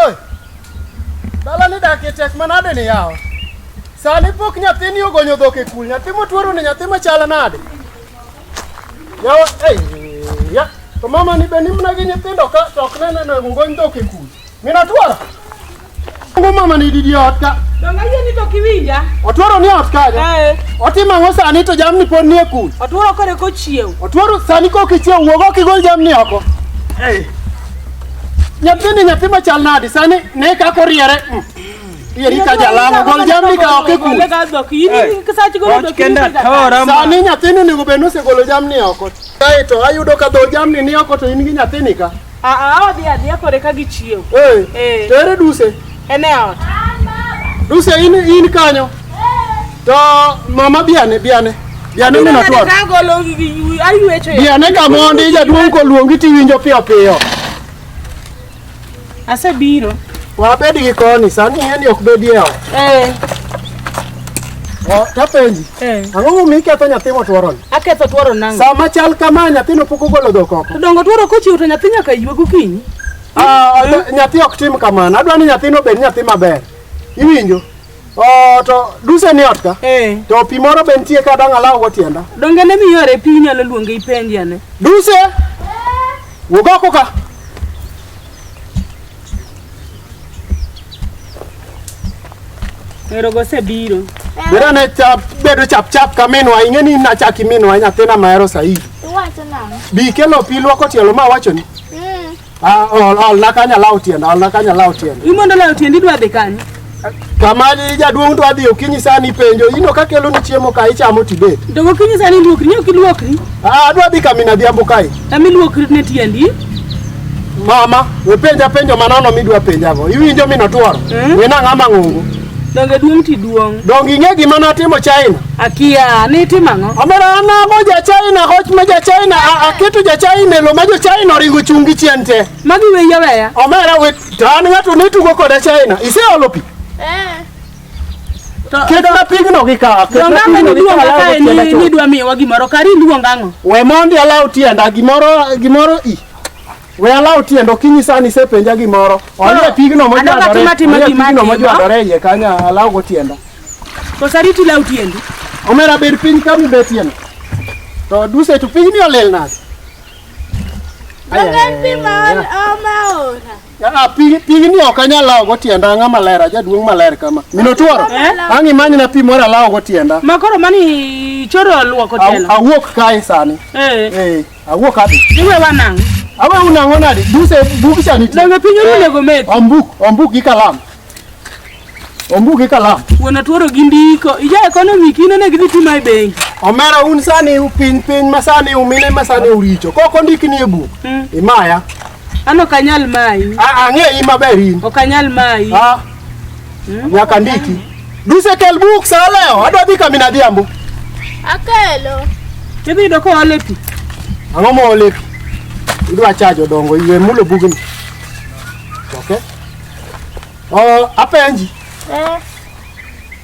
Oi, dala ni dak e tek manade ni yawa. Sani pok nyathini ogonyo dhok e kul, nyathi motuoro ni nyathi machal nade? Yawa, ei, ya, to mama ni be nimna gi nyithindo ka to ok nene no ogony dhok e kul. Mina tuoro. Ngo mama ni didi ot ka. Donga yie ni to kiwinja. Otuoro ni ot ka. Eh. Otimo ang'o sani to jamni pod ni e kul. Otuoro kore kochiew. Otuoro sani kok ichiew wuog ok igol jamni oko. Ei. Nyathini nyathi machal nadi sani ne kaka oriere. Mm. Eri ka jalamo gol jamni ka ok ikul. Sani nyathini onego bed ni osegolo jamni oko. Kae to ayudo ka dho jamni ni oko to in gi nyathini ka. Aa, odhi adhiya kore ka gichiew. Eh. Eh. To ere duse? En e ot. Duse in in kanyo. To mama biane biane. Biane mino tuo. Ka golo gi gi aywecho. Biane ka mondi jaduong' koluongi tiwinjo piyo piyo. Asebiro. Wabed gi koni sani en ok bedie ot. Eh. O, Tapenji. Eh. Ang'o momiyo iketho nyathi motuoroni? Aketho tuoro nango. Sama chal kama nyathino pok ogolo dhok oko. To dongo tuoro kochiwo to nyathi nyaka ywe gokinyi. Ah, nya- nyathi ok tim kamano adwa ni nyathino obed nyathi maber iwinjo Oh, to duse ni ot ka Eh, to pi moro be nitie ka dang' alawgo tienda donge ne miyore pi inyalo luonge ipenje ane. duse wuog oko ka Ero gosebiro. biro ne chap bedo chap chap ka minwa ing'e ni nachaki minwa nyathina mahero saidi Iwacho nang'o? bi kelo pi lwoko tielo ma awachoni Ah, ol, ol, nakanya law tienda, ol, nakanya law tienda. Imondo law tienda idwa dhi kanye? Kamali jaduong' dwa dhi okinyi sani ipenjo, ino ka kelo ni chiemo ka ichamo tibet. Dogo okinyi sani iluokri, ni ok iluokri? Ah, adwa dhi kami nadhiambo kae. Kami iluokri ne tiendi? Mama, we penja penjo manono midwa penjago. Iwinjo minotworo? Mm. Wena ng'ama ng'ongo. Donge duong' ti duong'. Donge ing'e gima natimo China? Akia, nitimo ang'o? Omera anago ja China hoch ma ja China aketo ja China e lo ma jo China oringo chung' gi chien te. Magi weya weya. Omera we tan ng'ato ne tugo koda China. Iseolo pi? Eh. Ketna pigno gi ka. Donge ang'e ni duong' ka ni ni dwa miyowa gimoro kari luong ang'o? We mondi alaw tienda gimoro gimoro i. We alaw tiendo okinyi sani isepenja gimoro. Onie pigno mojwadore. Adwa timo onie gima pigno atimo. mojwadore iye kanya alaw go tienda. Kosa riti law tiendi. Omera bed piny ka mibetie no. To duse to pigni olil nade? Ongen pi ma ol- oma ora. Ah, pig- pigni ok anyal lawo go tienda ang'a maler ajaduong' maler kama. Minotuoro. Eh? Ang' imanyna pi moro alawo go tienda. Ma koro mani choro luoko Aw- tielo. Awuok kae sani. Eh. Eh. Awuo kadi. Iwe wanang'. Awe unang'o nade? Duse bug cha nitie. Donge piny onego med. Ombuk, ombuk gi kalam. Ombuk gi kalam. Wuon atuoro gi ndiko. Ija ekonomi kine ne gidhi tima e bengi. Omera un sani piny piny ma sani umine ma sani uricho. Kok ondiki ni e buk. Imaya. An ok anyal mayi. Ang'eyi maber in. Ok anyal mayi. Ah. Nyaka ndiki. Duse kel buk sa leo, adwa dhi kami na dhiambo. Akelo. Idhi yudo ka ole pi. Ang'o ma ole pi? Idwa chajo dongo iwe mulo bugni. Okay. Oh, apenji. Eh.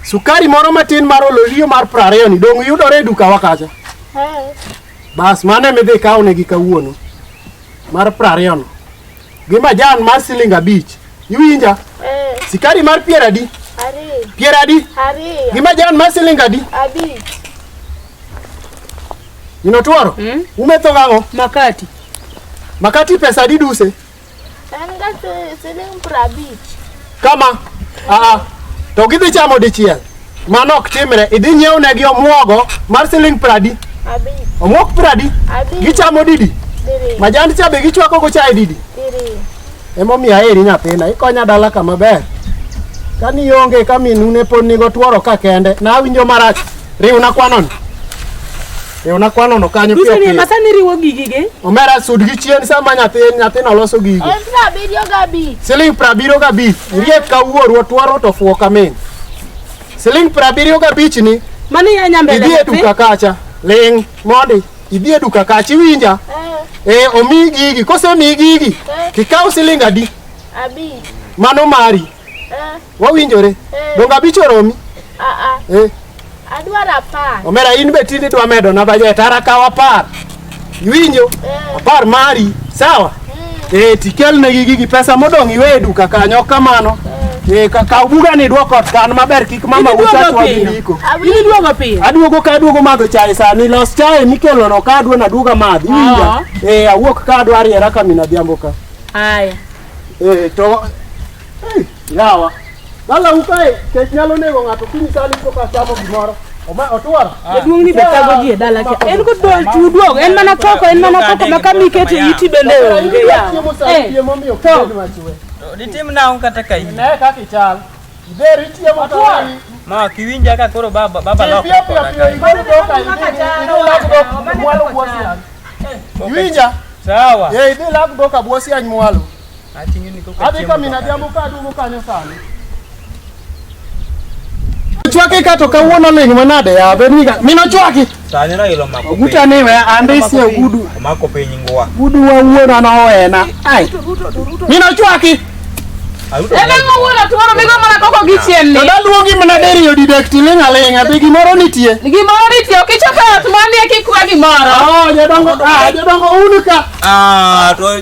Sukari moro matin mar ololio mar prariyo ni dong yudore e duka wakacha. Eh. Bas mane midhi kawo ne gi kawuono. Mar prariyo no. gi majan mar siling abich iwinja Eh, sikari mar pier adi ariyo. pier adi Ariyo. gi majan mar siling adi Abich. inotworo Mm. umetho gang'o Makati. makati pesa adi duse En ga si- siling prabich. kama aa to gidhi chamo dichiel Mano ok timre. Idhi nyiew negi omuogo mar siling pradi. Abi. Omuok pradi. Abi. Gichamo didi. Diri. Majand cha be gichwako go chai didi. Diri. Emomiyo aheri nyathina. Ikonya dala kama ber. Kani onge ka minune pod nigo tworo ka kende. Na awinjo marach. Riwna kwanoni. E ona kwano no kanyo pio pio. Masa ni riwo gigi ge. Omera sud gi chien sama nyathi nyathi no loso gigi. En pra biro ga bi. Siling pra biro ga bi. Rie ka wuoru twaro to fuo kamen. Siling pra biro ga bich ni. Mani ya nyambe. Idie duka kacha. Ling modi. Idie duka kacha iwinja. Eh. eh omi gigi kose mi gigi. Eh. Kikao siling adi? Abi. Mano mari. Eh. Wawinjore. Eh. Donge abich oromi? Ah, ah. Eh. Adwaro apar. Omera in be tinde idwa medo na bajet ara kaw apar. Iwinjo? Eh. Apar mari, sawa? Mm. Eh, tikelnegi gigi pesa modong' iwe e duka kanyo kamano. Eh, ka kaw bugani idwok ot kan maber kik mama Idhi duogo uchachwa gi piyo. ndiko. Idhi duogo piyo. Aduogo ka aduogo madho chae sani, los chae mikelono ka adwa naduoga madhi. Iwinja? Ah. Eh, awuok ka adwa ariera ka min adhiambo ka. Haya. Eh, to... Eh. Yawa. Lala ukae, kech nyalo nego ng'ato kiny sani to ka chamo gimoro. Oma otwar. Jaduong' ni betago ji e dala cha. En go dol tuduog, en mana koko, en mana koko ma kama iketo iti bende onge yawa. Chiemo sani Eh, chiemo miyo to. kid machwe. Ditim nang'o kata ka in. Ne kaka ichal. Iber ichiemo to wani. Ma kiwinja ka koro baba baba Piyo loko. piyo piyo piyo igol doka idhi idhi lag dok mwalo bwosian. Iwinja? Sawa. Eh idhi lag doka bwosian mwalo. Ati nyuni ko ka Abi kamina jambo ka dugo kanyo sani. Chwaki ka to kawuono ling manade ya be niga mino chwaki. Sani na ilo mako. Oguta ni we ande isi ogudu. Mako piny ngwa. Gudu wa wuona na owena. Ai. Mino chwaki. Ebe ngo wuona tuoro migo mana koko gichien ni. Dada luongi mana deri yo didek tiling aling abi gimoro nitie. Gimoro nitie okichopo ot manie kikwa gimoro. Oh, jadongo, ah, jadongo unika. Ah, to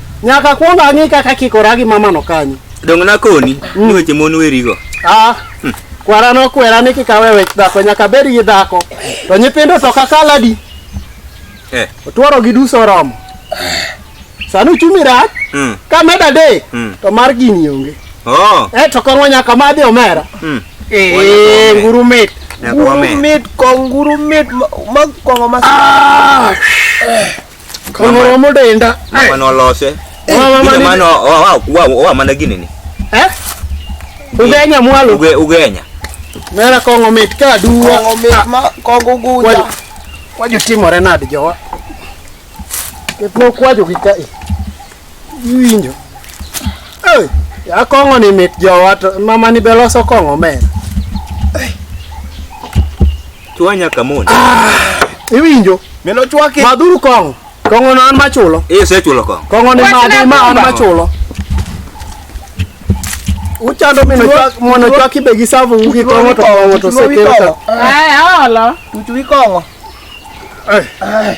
Nyaka kwong ang'i kaka kikora gi mamano kanyo. Donge nakoni mm. ni weche mon werigo? Ah. Hmm. Kwara nokwera ni kikawe wech dhako nyaka bed gi dhako. To nyithindo to kakaladi. Eh. Otwaro gi duso romo. Sani uchumi rach. Mm. Ka med adek mm. to mar gini onge. Oh. Eh to kong'o nyaka madhi omera. Mm. Eh, nguru mit. Nguru mit, konguru mit, mag kong'o mas. Ah. Kongoro mudenda. Mano lose. Mano wa wa wa mana gini ni. Eh? Ugenya mwalo. Uge ugenya. Mera kongo mit ka duwa. Kongo mit ah. ma kongo guja. Waju timore nadi jowa. Ketno kwaju gi kai. Winjo. Eh, ya kongo ni mit jowa to mama ni beloso kongo mera. Chwanya kamon. Iwinjo? Mino chwake. Madhuru kong'o. Kong'o no an machulo. Eh, sechulo kong'o. Kong'o ni madhi ma an machulo. Uchando mino chwak mono chwaki be gi savu ugi kong'o to kong'o to sekero to. Ai, olo. Uchuwi kong'o. Eh.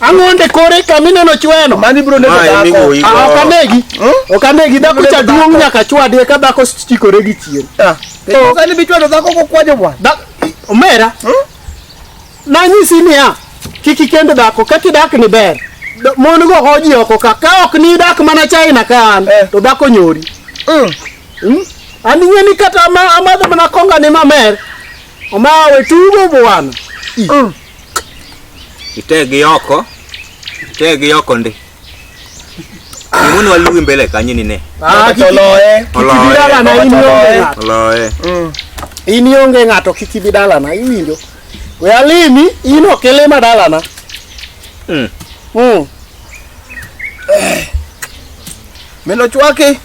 Ang'onde kore ka mineno chweno. Mani bro ne Mae migowo igo. Ah, ok anegi. Ok anegi dhako cha duong' nyaka chwadie ka dhako chikore gi chien. Oh. Sani bichwado dhako kokwajo bwana. Da omera. Nanyisi niya kik ikend dhako kaka idak ni ber. Do- Mon go hoji oko ka ka ok ni idak mana China ka an to dhako nyori. Mm. An ing'e ni kata ama- amadho mana konga ni mamer. Omawe tugo bwana. Itegi oko. Itegi oko ndi. Muni waluwi mbele kanyi ni ne. Ah, kik oloye. Oloye. Dala na in onge ng'ato. Oloye. Mm. In onge ng'ato kik ibi dala na iwinjo. We alimi in ok ilima dala na. Mm. Mm. Milo chwaki.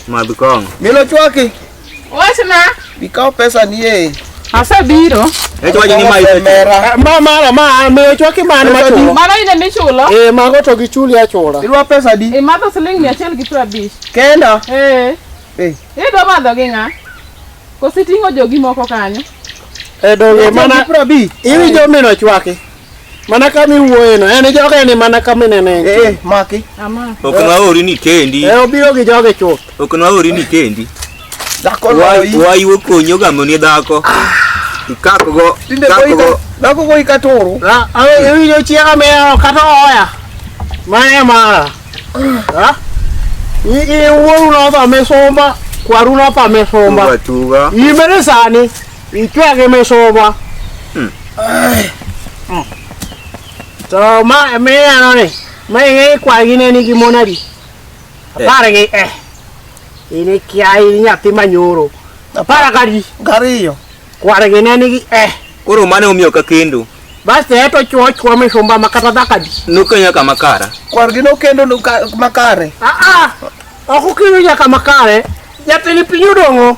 Madhukong. Milo chwaki. Wachna. Bikaw pesa ni e. Asebiro. Echwaje ni mai mera. Ma mara ma me ochwaki man ma chulo. Mano ine michulo. Eh mago to gichuli achula. Irwa pesa di. E madho siling 100 gi 50. Kenda. Eh. Eh. Idwa madho gi ng'a? Kositing'o jogi moko kanyo. E donge mana 50. Iwinjo mino chwaki. Mana kama iwuoye no, en joge ni mana kama inene. Eh, eh maki. Ama. Ok na ori ni kendi. Eh, obiro gi joge chuth. Ok na ori ni kendi. Dhako loi. Wai wo konyo ga moni dhako. Ah. Ikako go. Tinde go. Dhako go ikatoro. Ah, awe ewi yo chiega me kata oya. Mae mara. Ah. I i wuoru no tha mesomba. Kwaru no tha mesomba. Tuga. Imere sani. Ichwake mesoma. Hmm. To ma me ano ni. Ma ngi kwa gi ne ni gi monadi. Eh. Apare gi eh. Ini kia ini nyathi manyoro. Apara kadi. Gariyo. Kware gi ne ni gi eh. Koro mane omiyo ka kendo. Basi eto chuo chuo mishumba makata dhakadi. Nukenya kama kara. Kwar gi nokendo makare. Ah ah. Okukiro nyaka makare. Jatili pinyu dongo.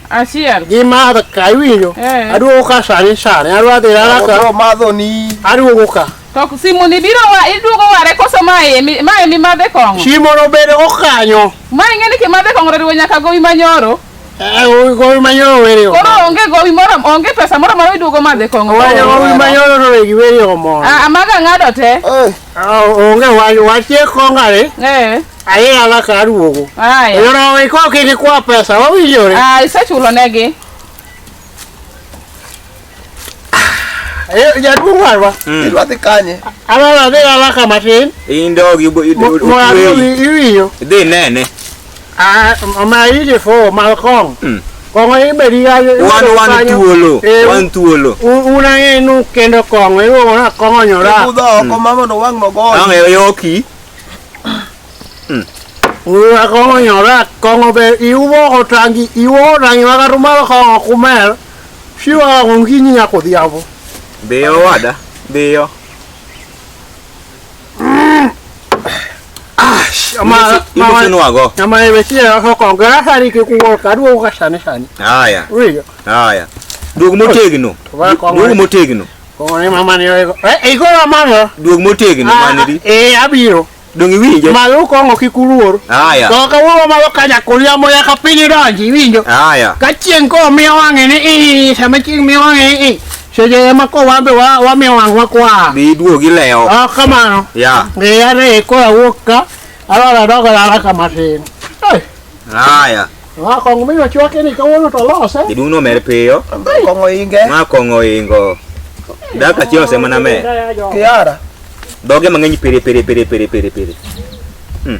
Aciar. Gi madho ka iwinjo. Eh. Aduogo ka sani sani. Adwa dhi rara ka. Odo madho ni. Aduogo ka. To simu ni biro wa iduogo ware koso mae mi mae mi madhe kong'o. Simu no bedo okanyo. Ma ing'eni ki madhe kong'o riwo nyaka gowi manyoro. Eh, gowi gowi manyoro weri omo. Koro onge gowi moro onge pesa moro moro iduogo madhe kong'o. Wanyo gowi manyoro to wegi weri omo. Ah, amaga ng'ado te. Eh. Ah, Onge wanyo wachie kongare. Eh. Aye ala ka aduogo. Aye. Yoro iko kiki kwa pesa wawinjore. Ah, isechulo negi. Eh, jaduong' warwa. Hmm. Idwa dhi kanye? Ala dhi ala ka matin. Indogi iwinjo. Dhi nene. Ah, ma ije fo malkong. Mm. Kong'o ibedi ga wan wan thuolo. Eh, wan thuolo. Una ng'enu kendo kong'o iwuono kong'o nyora. Ibudho oko hmm. mama no wang' no goyo. Ang'e yoki. Uya kongo nyora kongo be iwo otangi iwo otangi makarumalo kongo kumer shiwa konginyi nyako dhiambo. Biyo wada, biyo. Ama ama Imutunwago. ama ebetie yako kongo gasari kikuwo kaduwa ukashane shane. Haya, Uya haya. Dugu motegno. Tuba kongo. Dugu motegno. Kone mama ni oego. Eh, igora mama. Duog motegno Ah, manidi. Eh, abiro. Donge iwinjo? Malo kongo kik uluor. Haya. To kawuono malo kanya kulia moya ka piny donji iwinjo. Haya. Ka chieng' ko miyo wang'e ni i sama chieng' miyo wang'e ni i. Seche ema ko wambe wa wamiyo wang'wa kwa. Bi duog ilewo. Ah, kamano. Ya. Ngeyane ko awuok ka. Alora dogo lala kama tin. Eh, Haya. Ma kong'o mi ochwake ni kawuono to lose. Jaduong' nomer piyo. Kong'o inge. Ma kong'o ingo. Daka chieng' osemana me. Kiara. Doge mang'eny pere pere pere pere pere pere. Hmm.